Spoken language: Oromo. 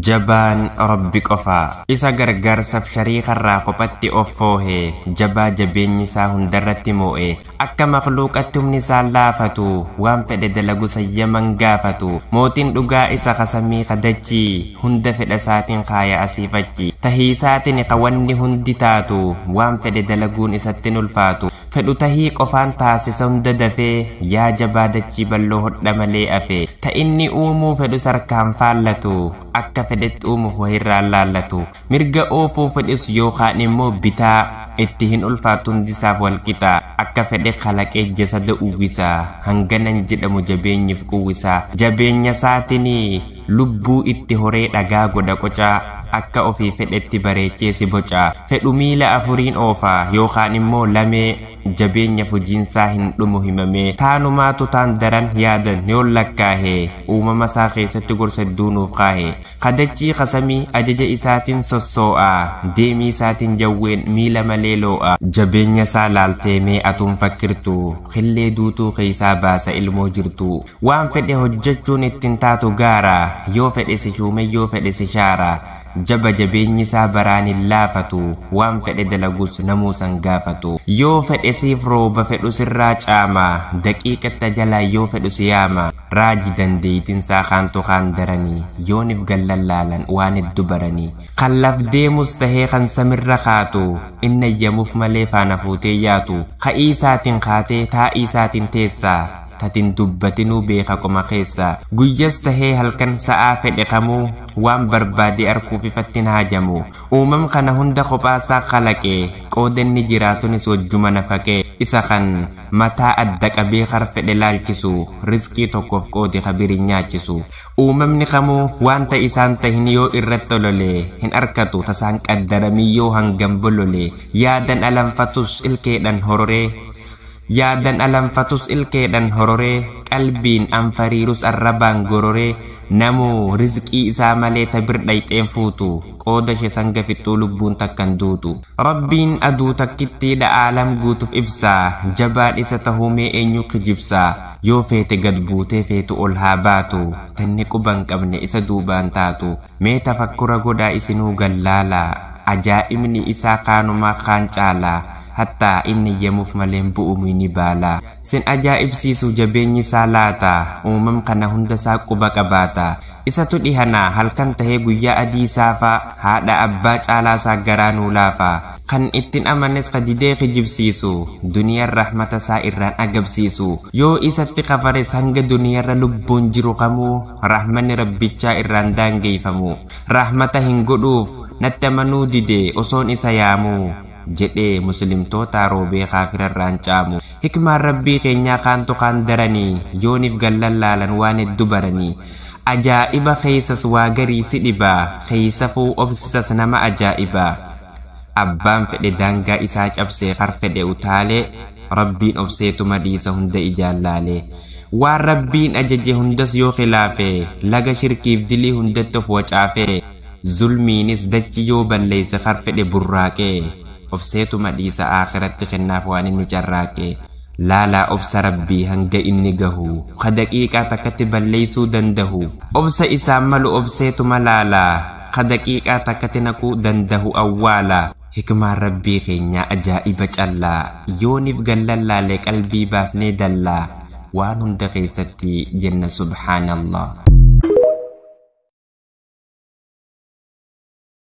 Jabaan Rabbi qofa. Isa gargaarsaf shariikarraa kophatti of foohe, jabaa jabeenyi isaa hundarratti moo'e, akka makhluuqatti humni isaan laafatu, waan fedhe dalagu sayyaman gaafatu, mootin dhugaa isa ka samii ka dachii, hunda fedha isaatin kaaya asiif achi, tahiisaatini ka wanni hundi taatu, waan fedhe dalaguun isatti hin ulfaatu. Fedhu tahii qofaan taasisa hunda dafee Yaa jabaa dachii balloo hodha malee afe Ta inni uumuu fedhus harkaan faallatu Akka fedhetti uumuf wahirraan laallatu Mirga oofuu fedhus yookaan immoo bitaa Itti hin ulfaattu hundisaaf walqixa Akka fedhe kalaqee jasada uwwisa Hanganan jedhamu jabeenyif quwwisa Jabeenyasaatinii Lubbuu itti horee dhagaa godha qocaa, akka ofii fedhetti bareechee si boca. Fedhu miila afuriin oofa, yookaan immoo lamee, jabeenya fujiinsaa hin dhumu himamee. Taanumaatu taan daran yaadan yoon lakkaahe, uumamasaa keessatti gorsa hedduu nuuf kaahe. Ka dachii ka samii ajaja isaatiin sossoo'a, deemiisaatiin jawween miila malee loo'a. Jabeenyasaa laaltee mee atuu hin fakkirtuu, killee duutuu keessaa baasa ilmoo jirtuu. Waan fedhe hojjechuun itti hin taatu gaara, yoo fedhe si shuume yoo fedhe si shaara, jaba jabeenyi isaa baraan hin laafatu, waan fedhe dalagus namuu san gaafatu. Yoo fedhe siif rooba fedhu sirraa caama, daqiiqatti ajalaan yoo fedhu si yaama, raaji dandeeytin isaa kaantu kaan darani, yoonif gallan laalan waan heddu barani, kan laf deemus tahee kan samirra kaatu, inni ayyamuf malee faana fuutee yaatu, ka'ii isaatin kaatee taa'ii isaatin teessa, tatin dubbatinuu beeka qoma keessaa. Guyyas tahee halkan sa'aa fedhe kamuu waan barbaade arkuuf ifatti hin haajamu. Uumam kana hunda kophaasaa kalaqe, qooda inni jiraatunis wajjuma nafaqe. Isa kan mataa adda qabee kar fedhe laalchisu, rizqii tokkoof qoode ka biri nyaachisu. Uumamni kamuu waanta isaan tahin yoo irratti olole hin arkatu tasaan qaddaramii yoo hangam bolole. Yaadan alanfatus ilkeedhan hororee. Yaadan alanfatus ilkeedhan hororee Qalbiin anfariirus arrabaan gororee Namuu rizqii isaa malee ta bir dhayxeen fuutu Qooda ishe sanga fixxuu lubbuun takkan duutu Rabbiin aduu takkittiidha aalam guutuf ibsa Jabaan isa tahuu mee eenyuu kijibsa Yoo feete gad buutee feetu ol haa baatu Tanni quban qabne isa duubaan taatu Mee tafakkura godhaa isinuu gad laala Ajaa'ibni isaa kaanumaa kaan caala Hattaa inni iyyamuuf malee hin bu'u muyni baalaa. Sin ajaa'ibsiisu jabeenyi isaa laata, uumam kana hunda isaa quba qabaata. Isatu dhihanaa halkan tahee guyyaa adii saafaa, haadha abbaa caalaa isaa garaa nuu laafa. Kan ittin amanes ka didee kijibsiisu, duniyan rahmata isaa irraan agabsiisu. Yoo isatti kafares hanga duniyarra lubbuun jiru kamuu rahmanni Rabbichaa irraan daangeyfamu. Rahmata hin godhuuf, natti amanuu dide osoon isa yaamuu. jedhee muslimtootaa roobee kaafirarraan caamu hikmaan rabbii keenyaa kaantu kaan daranii yooniif gallan laalan waan heddu baranii ajaa'iba keeysas waa garii si dhibaa keeysafuu obsisas nama ajaa'ibaa abbaan fedhe daangaa isaa cabsee kar fedhe utaalee rabbiin obseetuma dhiisa hunda ijaan laalee waan rabbiin ajaje hundas yoo khilaafe laga shirkiif dilii hundatti of wacaafee Zulmiinis dachi yoo balleesse kan fedhe burraaqe Obseetuma dhiisa Aakhiratti kennaaf waan inni carraaqe Laalaa obsa Rabbii hanga inni gahu Ka daqiiqaa takkatti balleessuu dandahu Obsa isaaf malu obseetuma laala Ka daqiiqaa takkatti naquu dandahu Awwaala Hikmaan Rabbii keenyaa ajaa'iba callaa Yoonif gallallaale qalbii baafnee dallaa Waan hunda keessatti jenna subhaanallah.